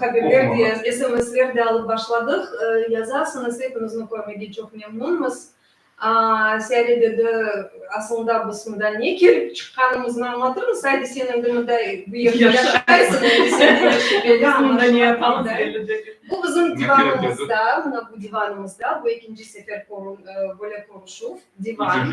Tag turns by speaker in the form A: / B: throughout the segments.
A: Haberler de, SMSler de alıp başladıq. Yazasıñız, hepinizni körmege çoq memnunmız. Searedede asılında biz mında ne kerip çıqqanımıznı añlatırmız. Haydi, sen endi mında bu yerde yaşaysıñ, endi sen de yaşa, belli añlaşılğanımızday. Bu bizim divanımızda, mına bu divanımızda, bu ekinci sefer böyle körüşüv, divan.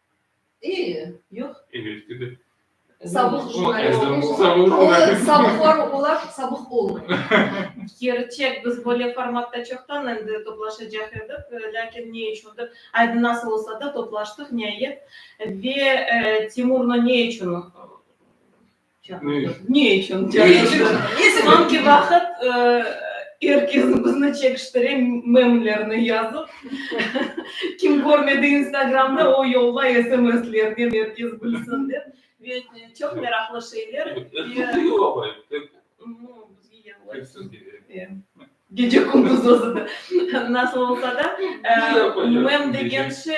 A: İyi, yoq. Engelski de. Sabıq jurnalist. O, sabıq jurnalist. O, sabıqlar olar sabıq olmay. Kerçek, biz böyle formatta çoqtan endi toplaşacaq edik, lâkin ne içündir, aydın nasıl olsa da toplaştıq, niayet. Ve Timurnı ne içün Çekiştirdi. Ne içün çekiştirdi? Ne içün? Angi vaqıt er kes bizni çekiştire, memlerni yazıp. Kim körmedi instagramda, o yolla sms-lernen er kes bilsin dep. Ve çoq meraqlı şeyler. Gece-kündüz özü de. Nasıl olsa da, mem degen şey,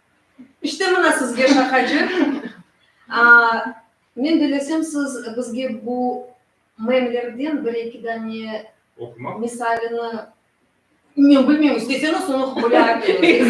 A: İşte mına sizge şaqacıq. Men dilesem siz bizge bu memlerden bir-eki dane misalini, men bilmeyim, isteseñiz soñra oqup bile aleñiz.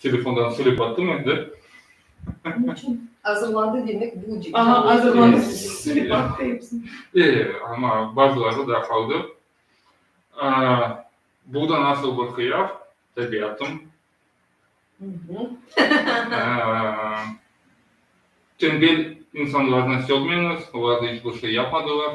A: Telefondan söylep attım endi. Ne içün? Azırladı demek bu dep. Aha, azırladı, söylep attı episini. E, ama bazıları da qaldı. Bu da nasıl bir qıyaf, tabiatım. Tembel insanlarnı sevmeñiz, olar da iç bir şey yapmadılar.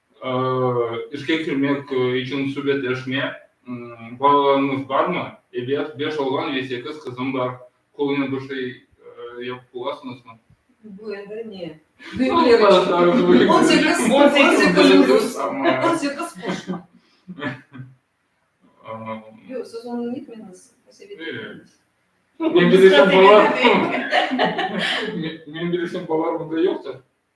A: İşke kirmek içün subetleşme, balalarıñız barmı? Ebet, beş oğlan ve sekiz qızım bar. Qolunıñ bir şey yapıp olasıñızmı? Bu endi ne? On sekiz plus on sekiz qoşma. Yoq, siz onı netmeniz, sovet etmeniz. Men bilişim, balalarım da yoqtır.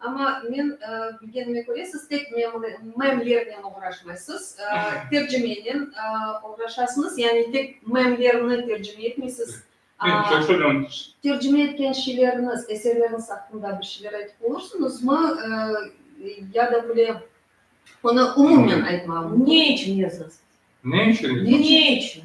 A: Amma men bilgenime köre, siz tek memlernen oğraşmaysız, tercimenen oğraşasıñız, yani tek memlerni tercime etmeysiz. Men çok soradım. Tercime etken şeyleriniz, eserleriniz aqqında bir şeyler aytıp olursunuzmı? Ya da böyle onı umumen aytmağım mümkün. Ne içün yazasız? Ne içün? Ne içün?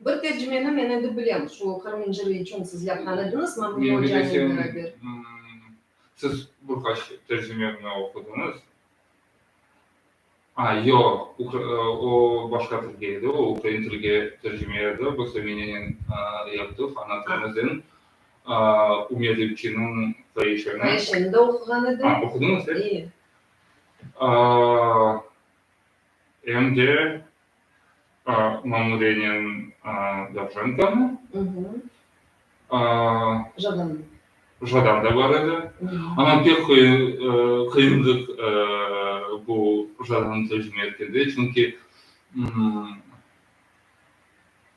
A: Bir tercimeni men endi bilem, şu Qırım inciri içün siz yapqan ediñiz, Mamnun Ocanıñ bir bir. Siz bir qaç tercimemni oqudıñız? A, yoq, o başqa tilge edi, o ukrain tilge tercime edi, biz Eminenen yaptıq, ana tilimizden Ümer Repçiniñ Faişeni. Faişeni de oquğan edim. A, oqudıñız, e? İyi. em de mamurenen Dovjenkonı, Jadam da bar edi, amma pek qıyınlıq bu Jadanı tercime etkende, çünki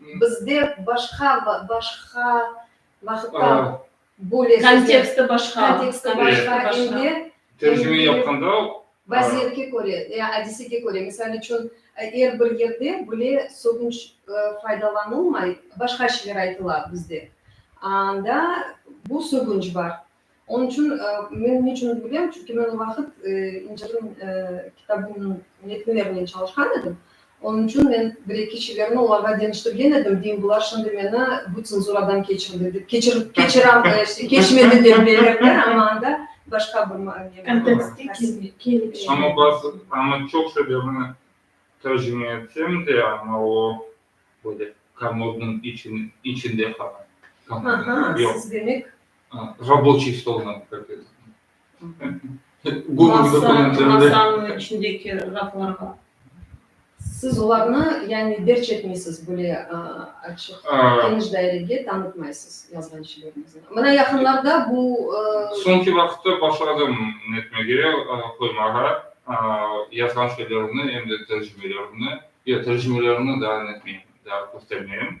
A: Bizde başqa, başqa vaqıtta böyle. Konteksti başqa. Konteksti başqa, em de. Tercime yapqanda. Vaziyetke köre, ya adisege köre. Misal içün, er bir yerde böyle sözünç faydalanılmay, başqa şeyler aytıla bizde. Anda bu sözünç bar. Onıñ içün men niçün bilem, çünki men o vaqıt İncilniñ kitabınıñ metnlerinen çalışqan edim, onıñ içün men bir-eki şiverini olarğa deñiştirgen edim, deyim, bular şimdi meni bu tsenzuradan keçirdi dep, keçirem, keçmedi dep bilirler, amma anda başqa bir mane. Kontekste kelip çıqar. Amma çoq şiverini tercime etsem de, amma o böyle, komodnıñ içinde qala. Aha, siz demek Raboçiy stolına diqqat eting. Siz olarnı, yani, derc etmeysiz, böyle açıq, geniş dairege tanıtmaysız yazğan şeylerniñizni. Mına yaqınlarda bu. Soñki vaqıtta başladım netmege, qoymağa yazğan şeylerimni, em de tercimelerimni, yoq, tercimelerimni daa netmeyim, daa köstermeyim.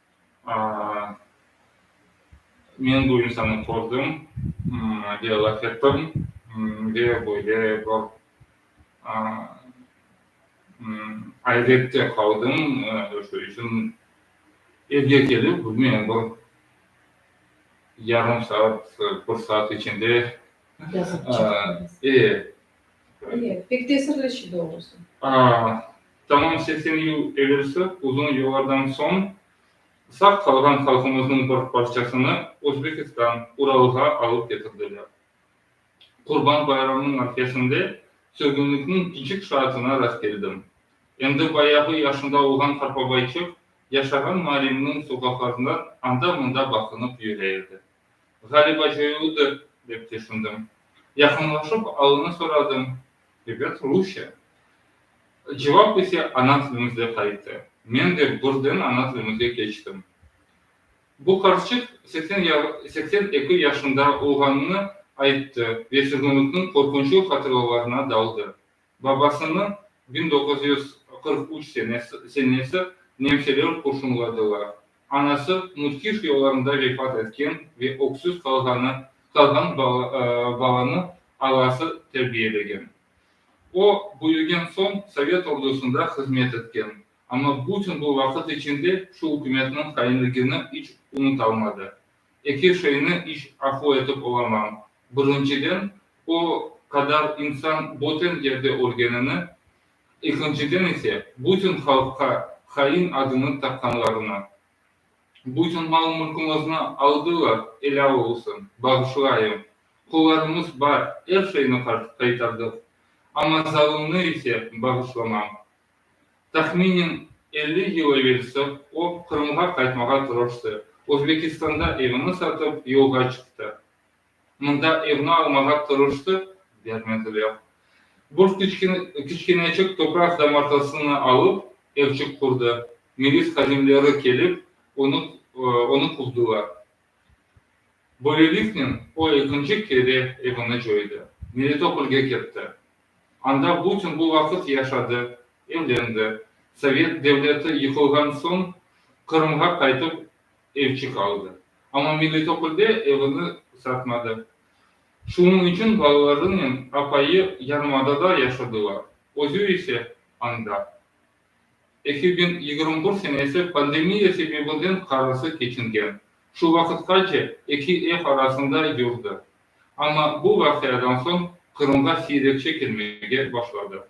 A: Men bu insannı kördim ve laf ettim ve böyle bir ayrette qaldım, şu içün evge kelip, bilmeyim, bir yarım saat, bir saat içinde, e, Mine, pek tesirli şi doğrusı. Aa, tamam seksen yıl evelsi uzun yıllardan soñ sağ qalğan halqımıznıñ bir parçasını Özbekistan, Uralğa alıp ketirdiler. Qurban bayramınıñ arfesinde sürgünlikniñ kiçik şaatına rastkeldim. Endi bayağı yaşında olğan Qarpabayçıq yaşağan Marimniñ soqaqlarından anda-mında baqınıp yüre edi. Ğaliba coyuldı, dep tüşündim. Yaqınlaşıp alını soradım, ebet, rusça. Cevap ise ana tilimizde qayttı. Men de birden ana tilimize keçtim. Bu qarçıq seksen eki yaşında olğanını ayttı ve sürgünlikniñ qorqunçlı hatırlalarına daldı. Babasınıñ biñ doquz yüz qırq üç senesi nemseler qurşunladılar. Anası müthiş yollarında vefat etken ve öksüz qalğan balanı ağası terbiyelegen. O, büyügen soñ sovet ordusında hızmet etken, amma bütün bu vaqıt içinde şu ükümetniñ hainligini iç unutalmadı. Eki şeyni iç afu etip olamam. Birinciden, o qadar insan boten yerde ölgenini, ekinciden ise, bütün halqqa hain adını taqqanlarını. Bütün mal-mülküñizni aldılar, elâ olsun, bağışlayıñ. Qollarımız bar, er şeyni qaytardıq, amma zalımnı ise bağışlamam. Tahminen elli yıl evelsi o, Qırımğa qaytmağa tırıştı, Özbekistanda evini satıp, yolğa çıqtı. Mında evni almağa tırıştı, bermediler. Bir kiçkeneçik topraq damartasını alıp, evçik qurdı. Milis hadimleri kelip, onı quvdılar. Böyleliknen o ekinci kere evini coydı, Melitopolge ketti. Anda bütün bu vaqıt yaşadı, evlendi. Sovet devleti yıqılğan soñ Qırımğa qaytıp evçi qaldı. Amma Melitopolde evini satmadı. Şunıñ içün balalarınen apayı yarımadada yaşadılar, özü ise, anda. Eki biñ yigirmi bir senesi pandemiya sebebinden qarası keçingen. Şu vaqıtqace eki ev arasında yurdı. Amma bu vaqiadan soñ Qırımğa siyrekçe kelmege başladı.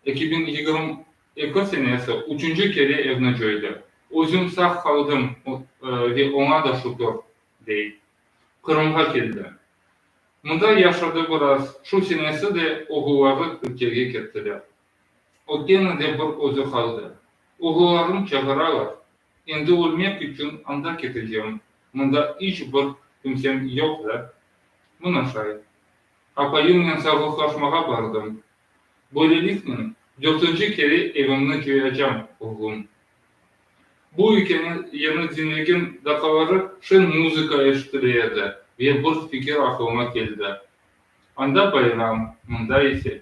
A: Eki biñ yigirmi eki senesi üçünci kere evni coydı. Özüm sağ qaldım ve oña da şükür, dey. Qırımğa keldi. Mında yaşadı biraz, şu senesi de oğulları Türkiyege kettiler. O kene de bir özü qaldı. Oğullarım çağıralar. Endi ölmek içün anda ketecegim, mında iç bir kimsem yoq da. Mına şay. Apayımnen sağlıqlaşmağa bardım. Böyleliknen, dörtünci kere evimni cıyacam, oğlum. Bu ikeni yeni diñlegen daqaları şen muzıka eşitile edi ve bir fikir aqlıma keldi. Anda bayram, mında ise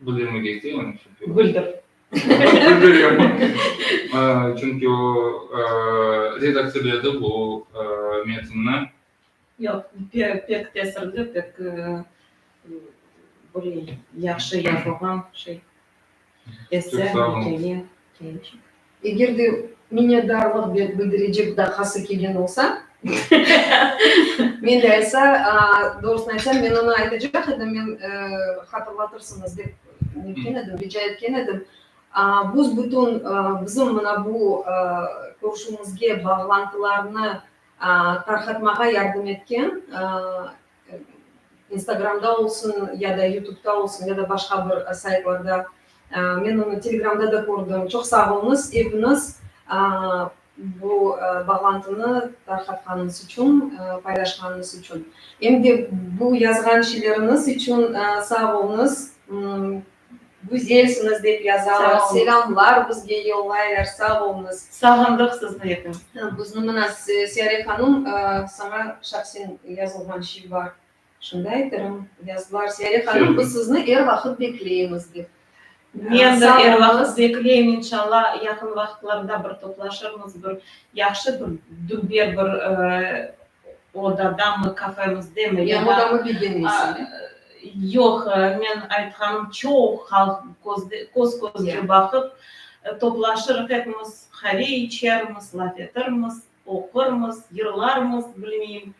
A: Bildirmek isteyim, çünki o. Bildir. Bildirem. Çünki o redaktsirledi bu metnni. Yoq, pek tesirli, pek, böyle, yahşı yazılğan şey. Eger de minnetdarlıq bildirecek dahası kelgen olsa, men de aytsa, doğrusını aytsam, men onı aytacaq edim, men hatırlatırsıñız dep netken edim, rica etken edim. Büs-bütün bizim mına bu körüşüvimizge bağlantılarnı tarqatmağa yardım etken İnstagramda olsun ya da YouTube'da olsun ya da başqa bir saytlarda men onı Telegramda da kördim. Çoq sağ olunız epiñiz bu bağlantını tarqatqanıñız içün, paylaşqanıñız içün. Em de bu yazğan şeyleriñiz içün sağ olunız. Güzelsiñiz dep yazalar, selamlar bizge yollaylar, sağ olunız. Sağındıq sizni etim. Bizni mına Siyare hanım saña şahsen yazılğan şey bar, şunda aytırım, yazdılar, Siyare hanım biz sizni er vaqıt bekleymiz dep. Men de er vaqıt bekleyim, inşalla yaqın vaqıtlarda bir toplaşırmız, bir yahşı bir dülber bir Odadamı, kafemizdemi ya da, yoq, men aytqanım, çoq halq köz-közge baqıp toplaşırıq epimiz, qave içermiz, laf etirmiz, oqurmız, yırlarmız, bilmeyim.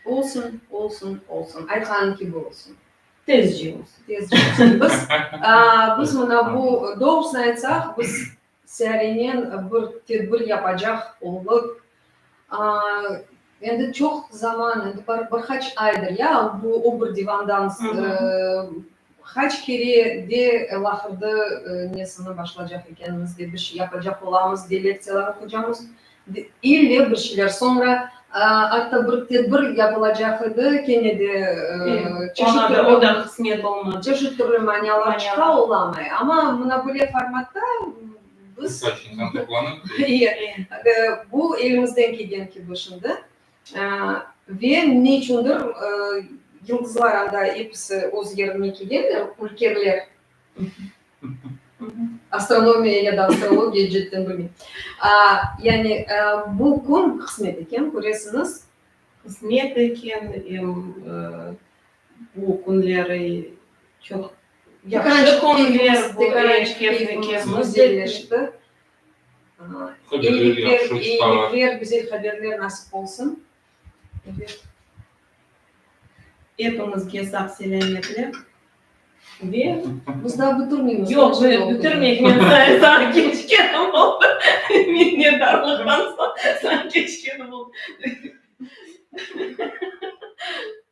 A: Olsun, olsun, olsun, aytqanıñ kibi olsun. Tezce olsun. Tezce olsun. Biz, biz mına bu, doğrusını aytsaq, biz Searenen bir tedbir yapacaq olıq. Endi çoq zaman, endi bir bir qaç aydır ya, bu o bir divandan qaç kere de laqırdı nesini başlacaq ekenimiz de, bir şey yapacaq olamız de lektsiyalar oqucamız, İlle bir şeyler soñra atta bir tedbir yapılacaq edi, kene de çeşit türlü manialar çıqa olamay. Amma mına böyle formatta biz bu elimizden kelgen kibi şimdi ve ne içündir yıldızlar anda episi öz yerine kelgenler, ülkerler. Astronomiya ya da astrologiya cidden bilmeyim. Yani bu kün qısmet eken, köresiñiz. Qısmet eken, em bu künleri çoq yahşı künler bu eşketniki. İyilikler, güzel haberler nasip olsun. Epimizge sağ-selâmetlik ve Biz daa bitirmeymiz. Yoq, men bitirmeyim, men saye sağa keçkenim oldı. Minnetdarlıqtan soñ sağa keçkenim oldı.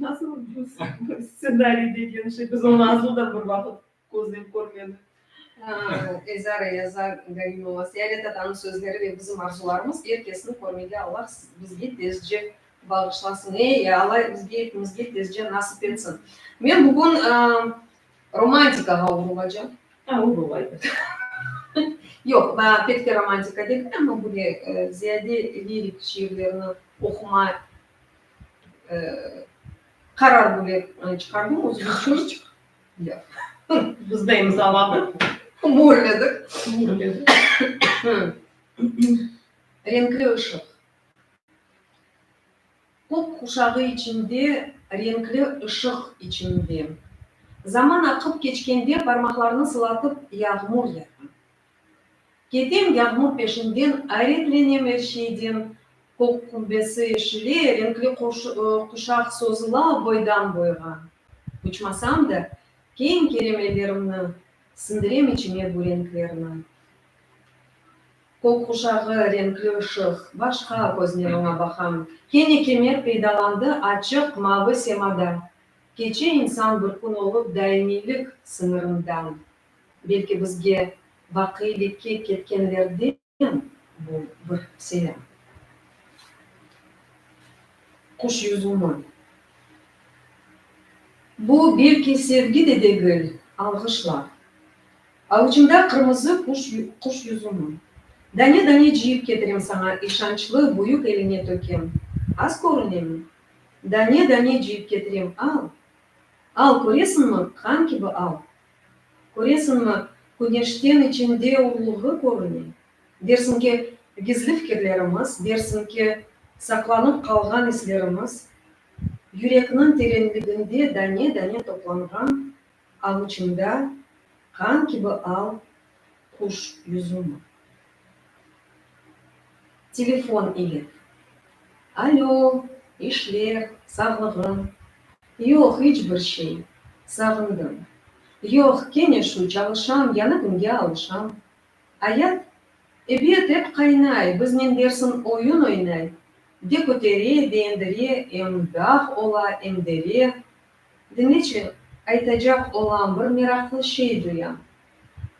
A: Nasıl bu stsenariy degen şey? Biz onı azı da bir vaqıt közlep körmedik. Ezara yazar Galimova Seyale tatanıñ sözleri ve bizim arzularımız er kesni körmege Allah bizge tezce bağışlasın. Ey, Allah bizge epimizge tezce nasip etsin. Men bugün romantikağa urulacam. A, urul, ayda. Yoq, pek de romantika degil, amma böyle ziyade lirik şiirlerini oquma Qarar bile çıqardım, özüm içün. Biz de imzaladıq. Murledik. Renkli ışıq. Top quşağı içinde, renkli ışıq içinde. Zaman aqıp keçkende, parmaqlarnı sılatıp, yağmur yağa. Ketem yağmur peşinden, ayretlenem er şeyden, Kök qubbesi eşile, renkli quşaq sozula boydan-boyğa. Uçmasam da, keñ keremelerimni, sindirem içime bu renklerni. Kök quşağı, renkli ışıq, başqa köznen oña baqam. Kene kemer peydalandı açıq mavı semada, Keçe insan bir kün olıp daimiylik sıñırından. Belki bizge vaqiylikke ketkenlerden bu bir selâm. Quş yüzümi. Bu belki sevgi de degil, alğışlar. Avuçımda qırmızı quş yüzümi. Dane-dane cıyıp ketirem saña işançlı büyük eliñe tökem. Az körünemi? Dane-dane cıyıp ketirem al. Al, köresiñmi, qan kibi al, Köresiñmi, küneşten içinde ulluğı körüne. Dersiñ ki, gizli fikirlerimiz, dersiñ ki, saqlanıp qalğan islerimiz, yürekniñ terenliginde dane-dane toplanğan avuçında qan kibi al quş yüzümi? Telefon ile. Alo, işler, sağlığıñ? Yoq, iç bir şey. Sağındım. Yoq, kene şu, çalışam, yañı künge alışam. Ayat, ebet, ep qaynay, biznen dersin oyun oynay, de kötere, de endire, em dağ ola, em dere, Diñeçiñ, aytacaq olam, bir meraqlı şey duyam.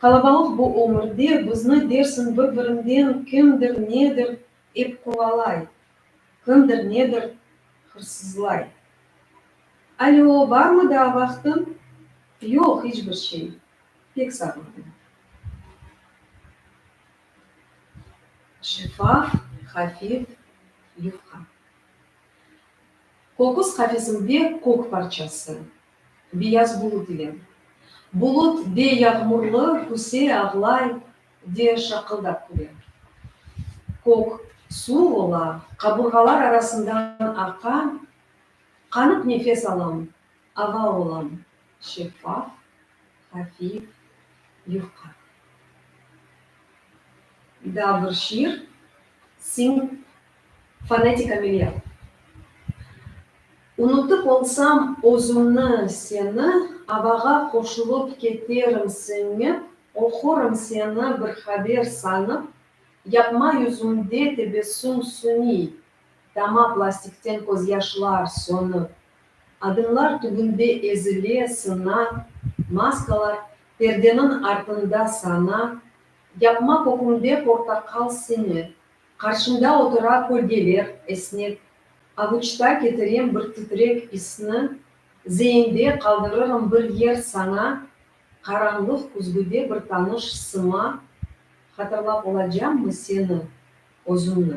A: Qalabalıq bu ömürde bizni dersiñ bir-birinden kimdir nedir ep qovalay, kimdir nedir hırsızlay. Alö, barmı daa vaqtıñ? Yoq, hiç bir şey. Pek sağırdım. Şeffaf, hafif yufqa. Kokuz qafesimde kök parçası. Biyaz bulut ile. Bulut de yağmurlı, küse, ağlay, de şaqıldap küle. Kök, suv ola, qaburğalar arasından aqa, qanıp nefes alım, Ava olam, şeffaf, hafif, yufqa. Da bir şiir, siñ fonetik ameliyat. Unutıp olsam özümni, seni, Avağa qoşulıp keterim siñip, Oqurım seni bir haber sanıp, Yapma yüzümde tebessüm süniy, Dama plastikten közyaşlar sönip. Adımlar tübünde ezile, sına, maskalar, perdeniñ artında sana, yapma kökümde portaqal sini, qarşımda otura kölgeler, esnek, avuçta ketirem bir titrek isni, zeinde qaldırırım bir yer sana, qaranlıq küzgüde bir tanış sıma, hatırlap olacammı seni, özümni?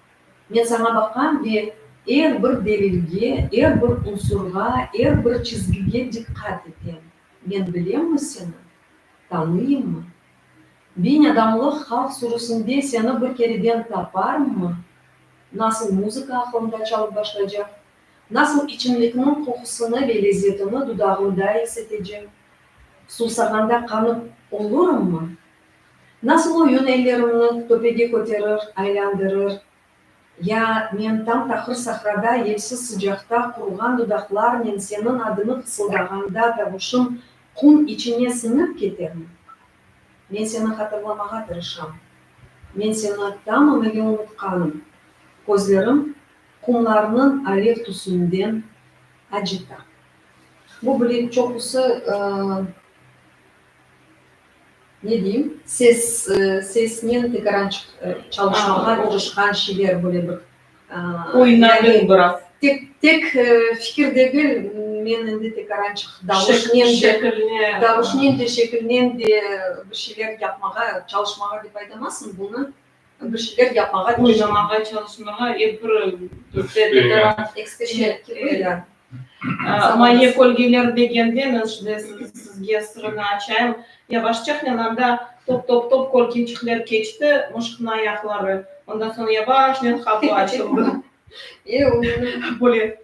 A: Men saña baqam ve er bir delilge, er bir unsurğa, er bir çizgige diqqat etem. Men bilemmi seni? Tanıyımmı? Biñ adamlıq halq sürüsinde seni bir kereden taparımmı? Nasıl muzıka aqlımda çalıp başlaycaq, nasıl içimlikniñ qoqusını ve lezzetini dudağımda esetecem, suvsağanda qanıp olurımmı? Nasıl oyun ellerimni töpege köterir, aylandırır. Ya, men tam taqır sahrada yelsiz sıcaqta quruğan dudaqlarnen seniñ adıñı fısıldağanda tavuşım qum içine siñip ketermi? Men seni hatırlamağa tırışam. Men seni tamamıyle unutqanım. Közlerim qumlarnıñ alev tüsünden acita. Bu bile çoqusı. Ne deyim, ses, sesnen tekaran çalışmağa tırışqan şeyler böyle bir, oynadım biraz. Tek, tek fikir degil, men endi tekarançıq davuşnen de, davuşnen de, şekilnen de bir şeyler yapmağa, çalışmağa dep aytamasıñ bunı. Bir şeyler yapmağa, cızamağa çalışmağa ve bir eksperimentler, eksperimentler kirmegen. Maye kölgeler degende, men şimdi sizge sırını açayım, yavaşçahnen anda top-top-top kölgecikler keçti, mışıqnıñ ayaqları, ondan soñ yavaşnen qapı açıldı. Böyle.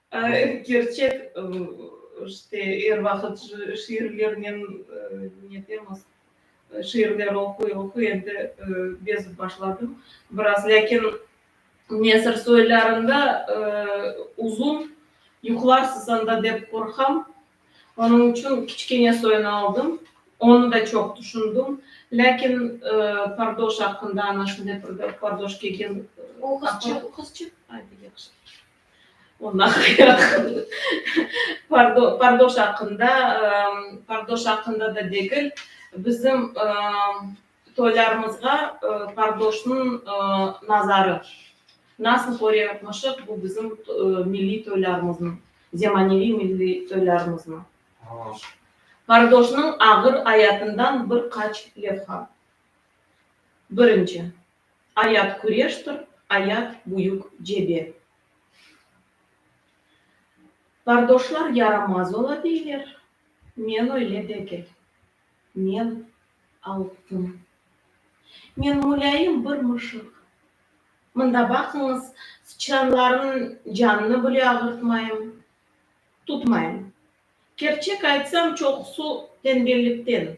A: Kerçek, işte, er vaqıt şiirlernen netemiz, şiirler oquy, oquy, endi bezip başladım biraz. Lâkin nesir soylarında uzun yuqlarsız anda dep qorqam. Onıñ içün kiçkene soyni aldım. Onı da çoq tüşündim. Lâkin pardoş aqqında, ana şunday bir pardoş kelgen. O qızçıq, qızçıq? Ay, yaxşı. Ondan ayaq. Pardo, pardoş aqqında, pardoş aqqında da degil, bizim toylarımızğa pardoşnıñ nazarı, nasıl körüyormuşıq bu bizim milliy toylarımıznı, zemaneviy milliy toylarımıznı. Pardoşnıñ ağır ayatından bir qaç levha. Birinci. Ayat küreştir, ayat, büyük cebe. Qardoşlar yaramaz ola deyler, men öyle degil. Men altın. Men mulâyim bir mışıq. Mında baqıñız, sıçranlarnıñ canını bile ağırtmayım, tutmayım. Kerçek aytsam, çoqusı tenbellikten,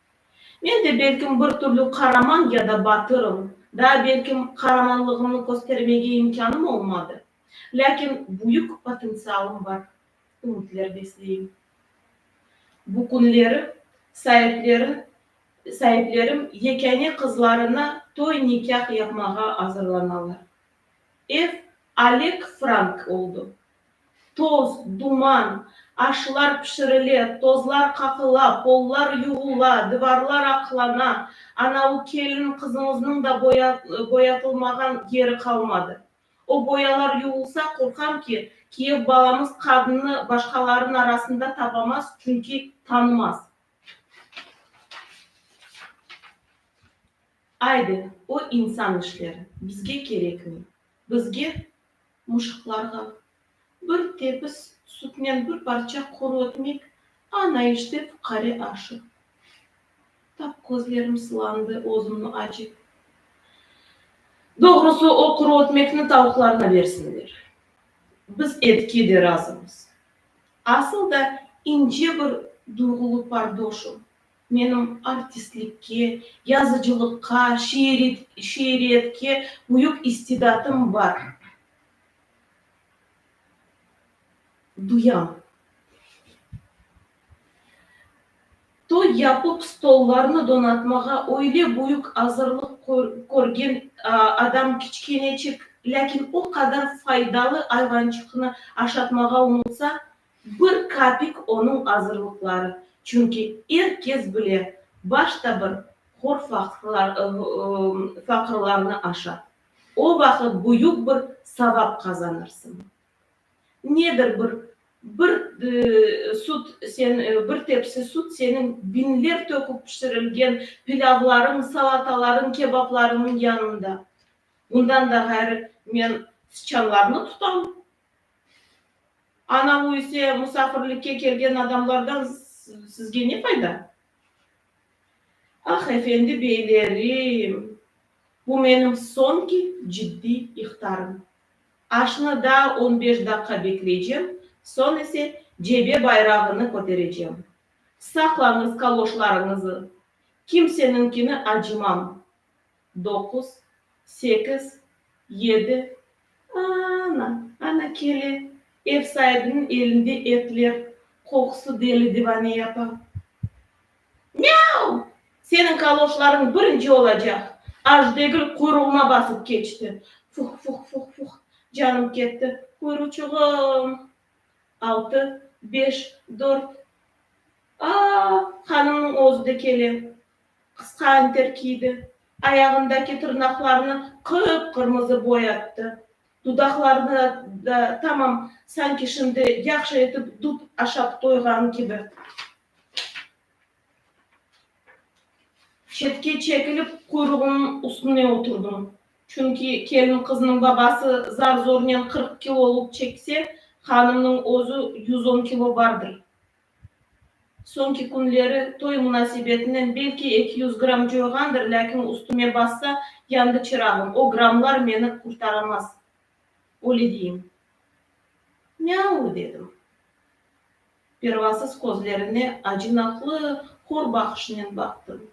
A: Men de belkim bir türlü qaraman ya da batırım, daa belkim qaramanlığımnı köstermege imkânım olmadı, lâkin büyük potentsialım bar, ümütler besleyim. Bu künleri saiplerin saiplerim yekâne qızlarına toy-nikâh yapmağa azırlanalar. Ev Oleg Frank oldı. Toz, duman. Aşlar pişirile, tozlar qaqıla, pollar yuğula, divarlar aqlana, ana u kelin qızımıznıñ da boyatılmağan yeri qalmadı. O boyalar yuğulsa, qorqam ki, Kiyev balamız qadnını başqalarnıñ arasında tapamaz, çünki tanımaz. Aydı, o insan işleri, bizge kerekmey. Bizge. muşıqlarğa. Bir tepis sütnen bir parça quru ekmek, ana işte fuqare aşı. Tap közlerim sılandı özümni acip. Doğrusı, o quru ekmekni tavuqlarına bersinler. Biz etke de razımız. Asıl da ince bir duyğulı pardoşım. Menim artistlikke, yazıcılıqqa, şiiriyetke büyük istidatım bar, duyam. Toy yapıp, stollarnı donatmağa öyle büyük azırlıq körgen adam kiçkeneçik, lâkin o qadar faydalı ayvançıqnı aşatmağa unutsa, Bir kapik onıñ azırlıqları, çünki er kes bile, başta bir hor faqırlarnı aşa. O vaqıt büyük bir savap qazanırsıñ. Nedir bir bir sut, sen bir tepsi sut seniñ biñler töküp pişirilgen pilâvlarıñ, salatalarıñ, kebaplarıñnıñ yanında. Bundan da ğayrı men sıçanlarnı tutam, Ana bu ise musafirlikke kelgen adamlardan sizge ne fayda? Ah, efendi beylerim, bu menim soñki ciddiy ihtarım. Aşnı daa on beş daqqa bekleycem, soñ ise cebe bayrağını köterecem. Saqlañız kaloşlarıñızı, kimseniñkini acımam. doquz, sekiz, yedi, a-a-ana, ana kele, ev saibiniñ elinde etler qoqusı deli-divane yapa. Myav! Seniñ kaloşlarıñ birinci olacaq! Az degil quyruğıma basıp keçti. Fuh-fuh-fuh-fuh, canım ketti, quyruçuğım! Altı, beş, dört, a-a-a, hanımnıñ özü de kele. Qısqa anter kiydi, ayağındaki tırnaqlarını qıp-qırmızı boyattı, dudaqlarını da tamam sanki şimdi yahşı etip dub aşap toyğan kibi, çetke çekilip quyruğınıñ üstüne oturdım, çünki kelin-qıznıñ babası zar-zornen qırq kilolıq çekse, hanımnıñ özü yüz on kilo bardır. Soñki künleri toy munasebetinen belki eki yüz gramm coyğandır, lâkin üstüme bassa, yandı çırağım, o grammlar meni qurtaramaz. Öyle deyim. Mâu, dedim. Pervasız közlerine acınaqlı, hor baqışnen baqtım.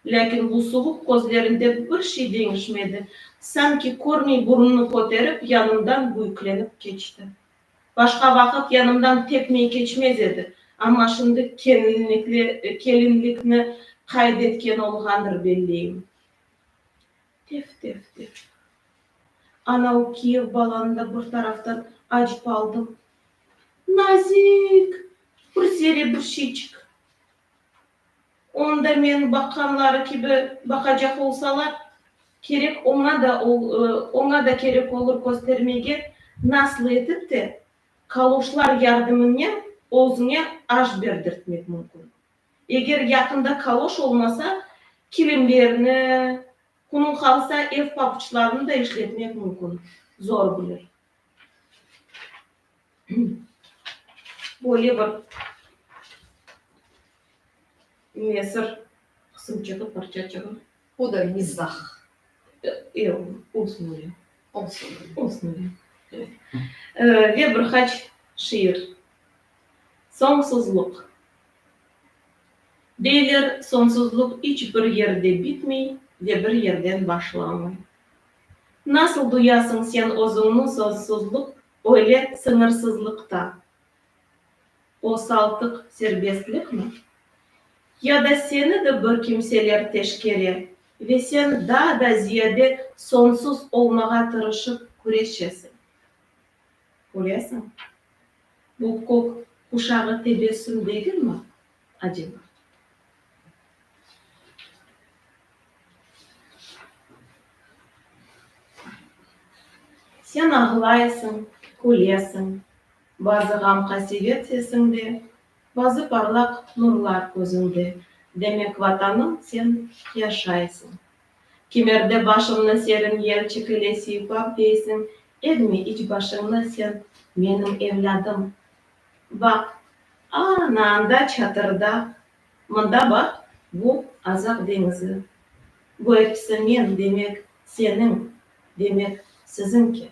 A: Lâkin bu suvuq közlerinde bir şey deñişmedi, sanki körmey burnunu köterip, yanımdan büyüklenip keçti. Başqa vaqıt yanımdan tekmey keçmez edi, amma şimdi kelinlikni qayd etken olğandır, belleyim. Tef-tef-tef. Ana o kiyev balanı da bir taraftan acip aldım. Nazik! Bir serebirşiçik! Onda men baqqanları kibi baqacaq olsalar, kerek oña da oña da kerek olur köstermege, nasıl etip de kaloşlar yardımınnen özüñe aş berdirtmek mümkün. Eger yaqında kaloş olmasa, kilimlerni, kunuñ qalsa, ev papuçlarını da işletmek mümkün, zor bilir. böyle bir nesir qısım çıqıp, parça çıqıp. O da mizah. Eee, olsun öyle. Olsun. Olsun öyle. Evet. Eee, ve bir qaç şiir. Soñsuzluq. Deyler, soñsuzluq iç bir yerde bitmey ve bir yerden başlamay. Nasıl duyasıñ sen özüñni sozsuzluq Öyle sıñırsızlıqta o saltıq serbestlikmi? Ya da seni de bir kimseler teşkere ve sen daa da ziyade soñsuz olmağa tırışıp küreşesiñ? Köresiñ, bu kök quşağı tebessüm degilmi? Один mart. Sen ağlayısıñ, külesiñ, Bazı ğam-qasevet sesiñde, Bazı parlaq nurlar közüñde, Demek, Vatanım, sen yaşaysıñ. Kimerde başımnı serin yel çekile Siypap deysiñ, egmi iç başıñnı sen, Menim evlâdım. Baq, ana anda çatırda, mında baq, bu Azaq deñizi. Bu episi men, demek, seniñ, demek, siziñki.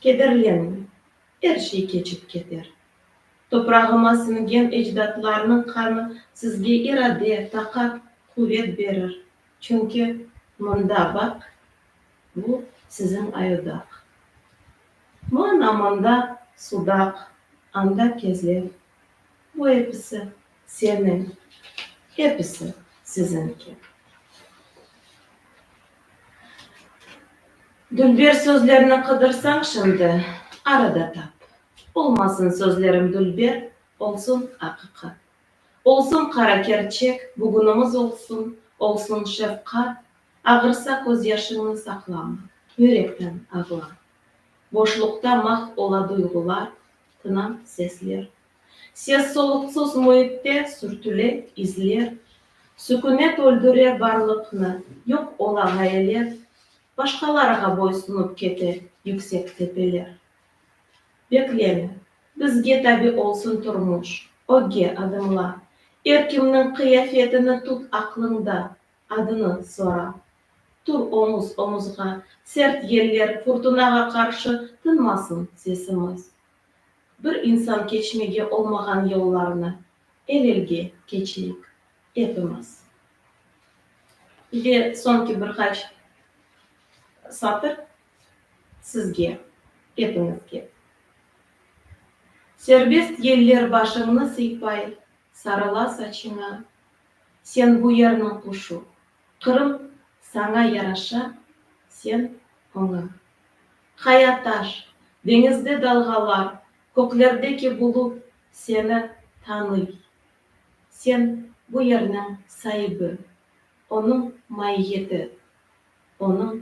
A: Kederlenme, er şey keçip keter. Toprağıma siñgen ecdatlarnıñ qanı sizge irade, taqat, quvet berir, çünki mında baq, Bu siziñ ayodaq. Mana mında sudaq, anda kezlev. Bu episi seniñ, episi siziñki. Dülber sözlerini qıdırsañ şimdi, arada tap. Olmasın sözlerim dülber, olsun aqiqat. Olsun qara kerçek, bugünimiz olsun, Olsun şefqat, ağırsa közyaşıñnı saqlama, Yürekten ağla. Boşluqta mahv ola duyğular, Tına sesler. Ses-soluqsız müitte sürtüle izler, Sükünet öldüre barlıqnı, yoq ola ğayeler, Başqalarğa boysunıp kete yüksek tepeler. Bekleme, bizge tabi olsun turmuş, ögge adımla, Er kimniñ qıyafetini tut aqlıñda, adını sora. Tur omuz-omuzğa, sert yeller, furtunağa qarşı tınmasın sesimiz. Bir insan keçmege olmağan yollarnı el-elge keçeyik epimiz. Ve soñki bir qaç satır. Sizge, epiñizge. Serbest yeller başıñnı sıypay, sarıla saçıña, Sen bu yerniñ quşu, Qırım saña yaraşa, sen, oña. Qaya taş, deñizde dalğalar, köklerdeki bulut seni tanıy, Sen bu yerniñ saibi, onıñ maiyeti, onıñ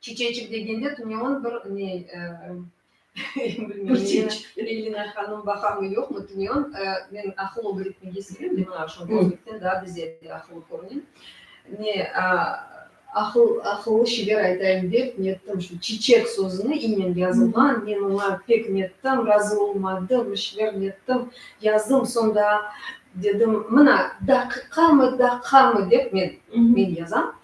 A: Çiçeçik degende tünevın bir ne, bilmeyim, Elina hanım baqamı, yoqmı, tünevın men aqıl ögretmege sevem, men aña şonda özbekten daa bizede aqıllı körünem. Ne, aqıl, aqıllı şeyler aytayım dep nettim, şu çiçek sözüni i nen yazılğan, men oña pek nettim, razı olmadım, bir şeyler nettim, yazdım, soñ daa dedim, mına, daqiqamı, daqamı dep men, men yazam,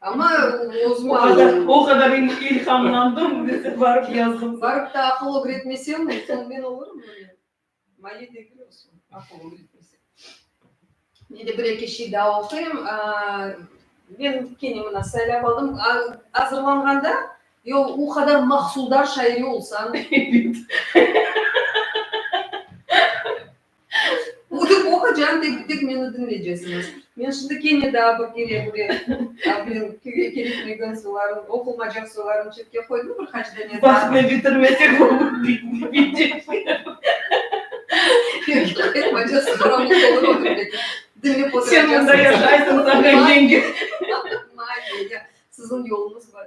A: Amma o qadar ilhamlandım, barıp yazdım. Barıp da aqıl ögretmesem, men olurmı? Mali degil olsun, aqıl ögretmesem. Men de bir-eki şey daa oquyım. Men kene mına saylap aldım. Azırlanğanda, yoq, o qadar mahsuldar şairi olsañ. Oda qoqacan tek tek meni diñleycesiñiz. Men şimdi kene daa bir kere böyle men köyge keritmegen soylarım, oqulmacaq soylarım çetke qoydım bir qaç dane daa. Bahsni bitirmesek Sen mında yaşaysıñ, Sakan yenge. Siziñ yoluñız var.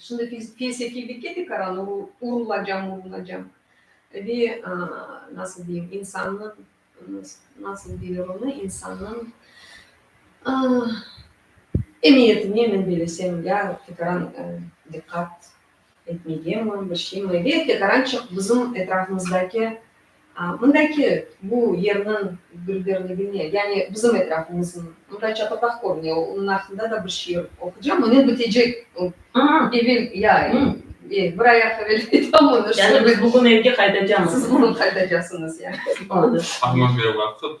A: Şimdi felsefiylikke de qaralı, o urulacam, urulacam. Ve nasıl deyim, insannıñ, nasıl deyler onı, insannıñ emiyetine men belesem, ya, fikran, diqqat Etmege mi, bir şey mi? Ve tek arançıq bizim etrafımızdaki, mındaki bu yerniñ gülberligine, yani bizim etrafımıznıñ, mında çatırdaq körüne, onıñ aqqında da bir şiir oqucam, o ne bitecek, evel, ya, bir ayaq evel aytam onı. Yani biz bugün evge qaytacamız. Siz bugün qaytacasıñız, ya. Oldı. Amma ne vaqıt?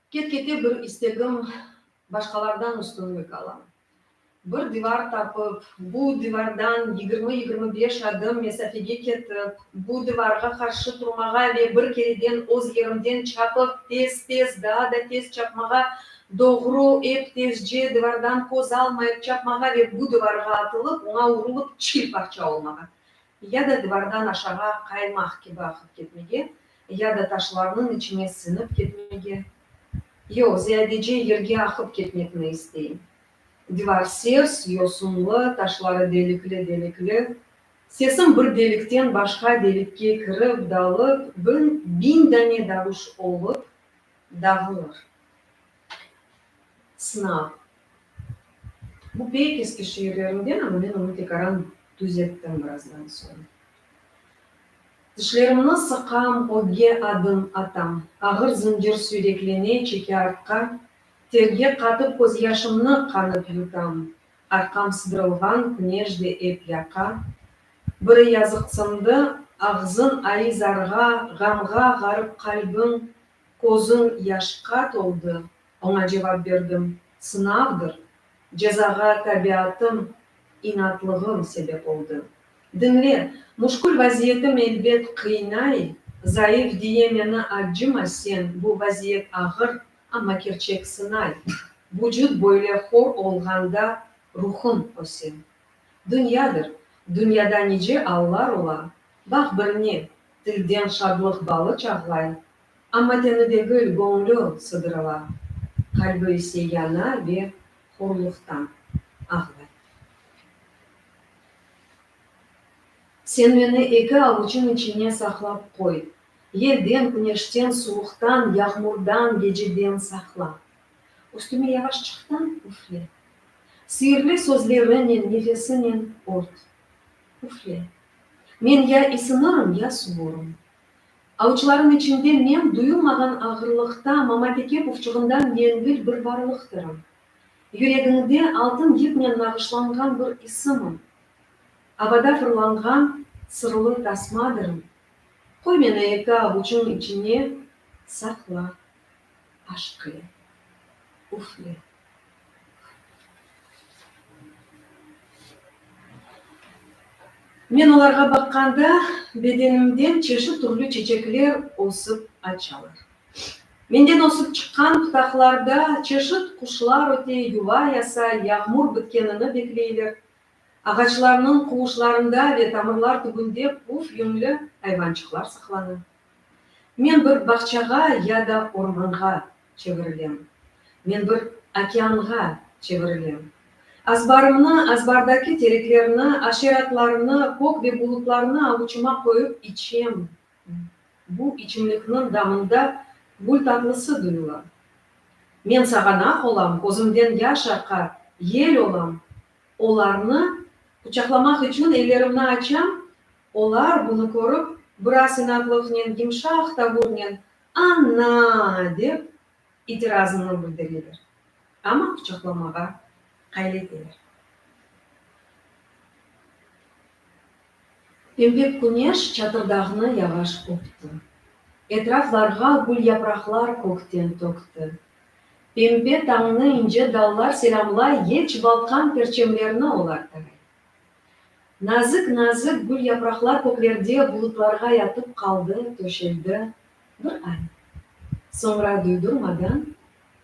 A: Ket-kete bir istegim, başqalardan üstünlik alam. Bir divar tapıp, bu divardan yigirmi-yigirmi beş adım mesafege ketip, bu divarğa qarşı turmağa ve bir kereden öz yerimden çapıp, tez-tez, daa da tez çapmağa, doğru, ep tezce, divardan köz almayıp çapmağa ve bu divarğa atılıp, oña urulıp, çil parça olmağa ya da divardan aşağı qaymaq kibi aqıp ketmege, ya da taşlarnıñ içine siñip ketmege, yoq, ziyadece yerge aqıp ketmekni istey. Divar sers, yosunlı, taşları delikli-delikli. Sesim bir delikten başqa delikke kirip, dalıp, bin, biñ dane davuş olıp, dağılır. Sınav. Bu pek eski şiirlerimden, amma men onı tekaran tüzettim birazdan soñ. Dişlerimni sıqam, ögge adım atam. Ağır zıncır süyreklene çeke artqa, Terge qatıp közyaşımnı qanıp yutam. Arqam sıdırılğan küneş de ep yaqa. Biri yazıqsındı, ağzın ayı zarğa, Ğamğa ğarıp qalbim, Közüm yaşqa toldı, oña cevap berdim, sınavdır, cezağa tabiatım, inatlığım sebep oldı. Diñle, muşkül vaziyetim elbet qıynay, zayıf diye meni accıma sen, bu vaziyet ağır, amma kerçek sınay. Vucut böyle hor olğanda ruhum öse. Dünyadır, dünyada nice allar ola, baq birine, Tilden şadlıq balı çağlay, amma teni degil, göñlü sıdırıla, qalbi ise yana ve horluqtan ağlay. Sen meni eki avuçıñ içine saqlap qoy, yelden, küneşten, suvuqtan, yağmurdan, geceden saqla. Üstüme yavaşçıqtan üfle. Siirli sözleriñnen, nefesinen ört. Üfle. Men ya isinırım, ya suvurum. Avuçlarım içinde men duyulmağan ağırlıqta Mamateke pufçuğından yengil bir varlıqtırım. Yüregiñde altın yipnen nağışlanğan bir isimim. Avada fırlanğan sırlı tasmadırım. Qoy meni eki avuçıñ içine saqla, aşq ile. Üfle. Men olarğa baqqanda, bedenimden çeşit türlü çeçekler ösip açalar. Menden ösip çıqqan pıtaqlarda çeşit quşlar öte, yuva yasa, yağmur bitkenini bekleyler. Ağaçlarnıñ quvuşlarında ve tamırlar tübünde puf yüñli ayvançıqlar saqlana. Men bir bağçağa ya da ormanğa çevirilem. Men bir okeanğa çevirilem. Azbarımnı, azbardaki tereklerni, aşeratlarını, kök ve bulutlarnı avuçıma qoyıp içem. Bu içimlikniñ damında gül tatlısı duyula. Men sağanaq olam, közümden yaş aqa, yel olam. Olarnı quçaqlamaq içün ellerimni açam, olar bunı körip, biraz inatlıqnen, yımşaq tavurnen, Ana! dep, itirazını bildireler, amma quçaqlamağa qayl eteler. Pembe küneş çatırdağnı yavaş öpti. Etraflarğa gül yapraqlar kökten tökti. Pembe tañnı ince dallar selâmlay, yec balqan perçemlerni olar taray. Nazik-nazik gül yapraqlar köklerde bulutlarğa yatıp qaldı, töşeldi. Bir ay. Soñra duydurmadan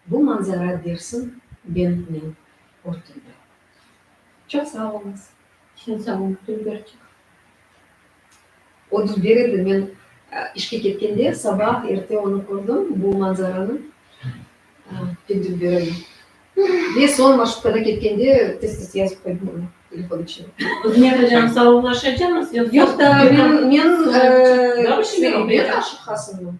A: bu manzara dersin bentnen örtüldi. Çoq sağ oluñız. Sen sağ ol, Dilberçik. Otuz bir edi, men işke ketkende, saba erte onı kördim, bu manzaranı tintip berem. Ve soñ marşrutkada ketkende tez-tez yazıp qoydım onı telefon içine. Hızmet hocam, savablaşacamız? Yoq, men, men, men aşıq hasınmın.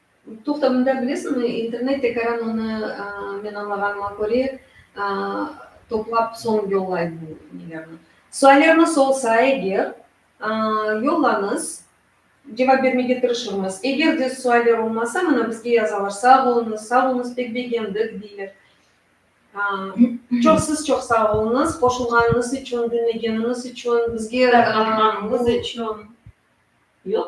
A: Toqtamında bilesiñmi, internet tekaran onı, men añlağanıma köre, toplap soñ yollay bu nelerni. Suallerniz olsa eger, yollañız, cevap bermege tırışırmız. Eger de sualler olmasa, mına bizge yazalar, sağ oluñız, sağ oluñız, pek begendik, deyler. Çoq siz çoq sağ oluñız, qoşulğanıñız içün, diñlegeniñiz içün, bizge. Taqılğanıñız içün. Yoq.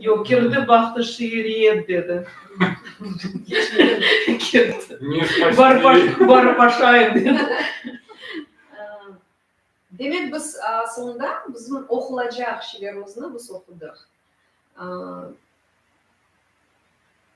A: Yoq, kirdi baktı şiiriyet dedi. Kirdi. Barıp aşayım dedi. Demek biz soñda bizim oqulacaq şiirlerimizni biz oqudıq.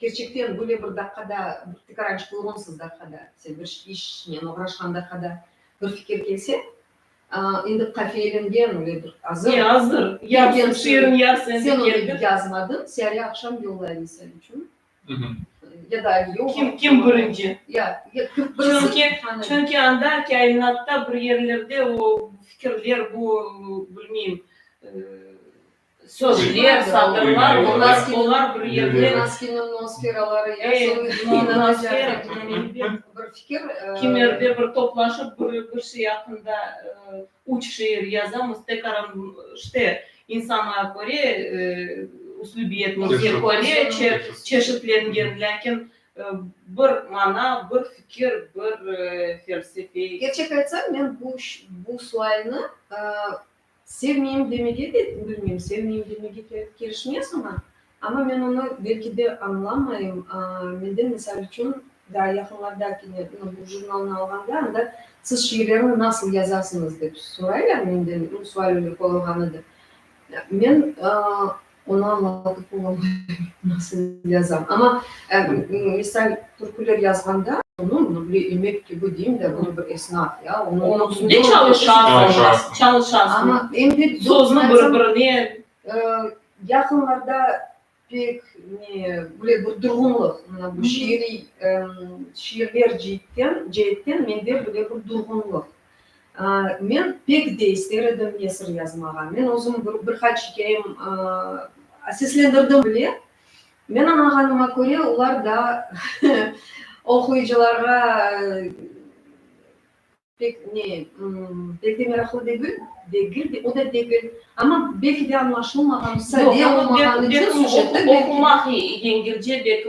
A: Kerçekten böyle bir daqqada, bir tikaranç buyğunsız daqqada, sen bir işnen oğraşqan daqqada bir fikir kelse, endi qafiyelengen ve bir azır. Ne azır? Yarısın şiirin, yarısın endi keldi. Sen onı yazmadıñ, siyare aqşam yollayım misal içün. Ya da ali yoq. Kim, kim birinci? Ya, ya kim birisi. Çünki anda kâinatta bir yerlerde o fikirler, bu, bilmeyim, Sözler, satırlar, olar, olar bir yerde. Maskiniñ noskeraları, ya soñra inanacaqlar. Bir fikir. Kimerde bir toplaşıp bir, bir şey aqqında üç şiir yazamız, tekaran işte insana köre, üslübiyetine köre çeşitlengen, lâkin bir mana, bir fikir, bir felsefe. Kerçek aytsam, men bu, bu sualni Sevmeyim demege de, bilmeyim, sevmeyim demege kerişmez oña, amma men onı belki de añlamayım. Mende, misal içün, daa yaqınlarda kene bu jurnalnı alğanda, anda siz şiirlerni nasıl yazasıñız dep soraylar menden, sual öyle qoyulğan edi. Men Onı añlatıp olamay, nasıl yazam. Amma, misal, türküler yazğanda. Onı, onı bile emek kibi deyim da, bu bir esnaf, ya. Onıñ üstünde çalışasız. Çalışasız. Amma, endi. Sözni bir-birine. Yaqınlarda pek ne, böyle bir durğunlıq, mına bu şiiriy, şiirler ceetten, ceetten mende böyle bir durğunlıq. Men pek de ister edim nesir yazmağa. Men özüm bir qaç ikâyem seslendirdim bile. Men añağanıma köre, olar da oquyıcılarğa pek ne, pek de meraqlı degil, degil de, o da degil. Amma belki de añlaşılmağan, sade olmağanı içün süjetni belki de. Oqumaq yengilce, belki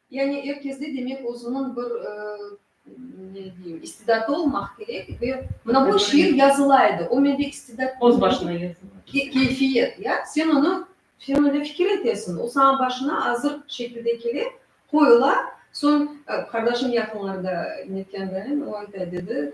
A: Yani er kesde demek özüniñ bir, ne deyim, istidatı olmaq kerek ve mına bu şiir yazıla edi, o mende istidat yoq. Öz başına yazıla. Keyfiyet, ya, sen onı, sen öyle fikir etesiñ, o saña başına azır şekilde kele, qoyula, soñ qardaşım yaqınlarda netkendayın, o ayta, dedi,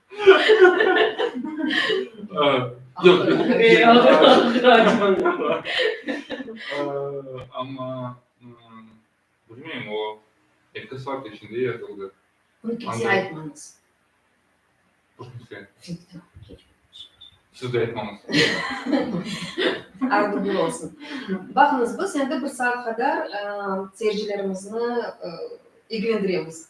A: Amma, bilmeyim, o eki saat içinde yazıldı. Bunı kimseye aytmañız. Hiç kimseye? Siz de aytmañız. Ardıgül olsun. Baqıñız, biz endi bir saat qadar seyircilerimizni ilgilendiremiz.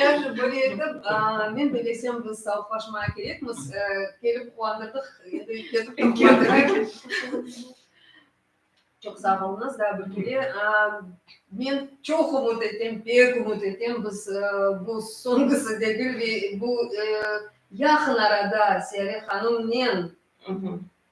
A: Yaxşı, böyle etip, men de bilsem, biz savıqlaşmağa kerekmiz. Kelip quvandırdıq, endi ketip te quvandırayıq. Çoq sağ olunız, daa bir kere. Men çoq ümüt etem, pek ümüt etem, biz bu soñğusı degil ve bu yaqın arada Siyare hanımnen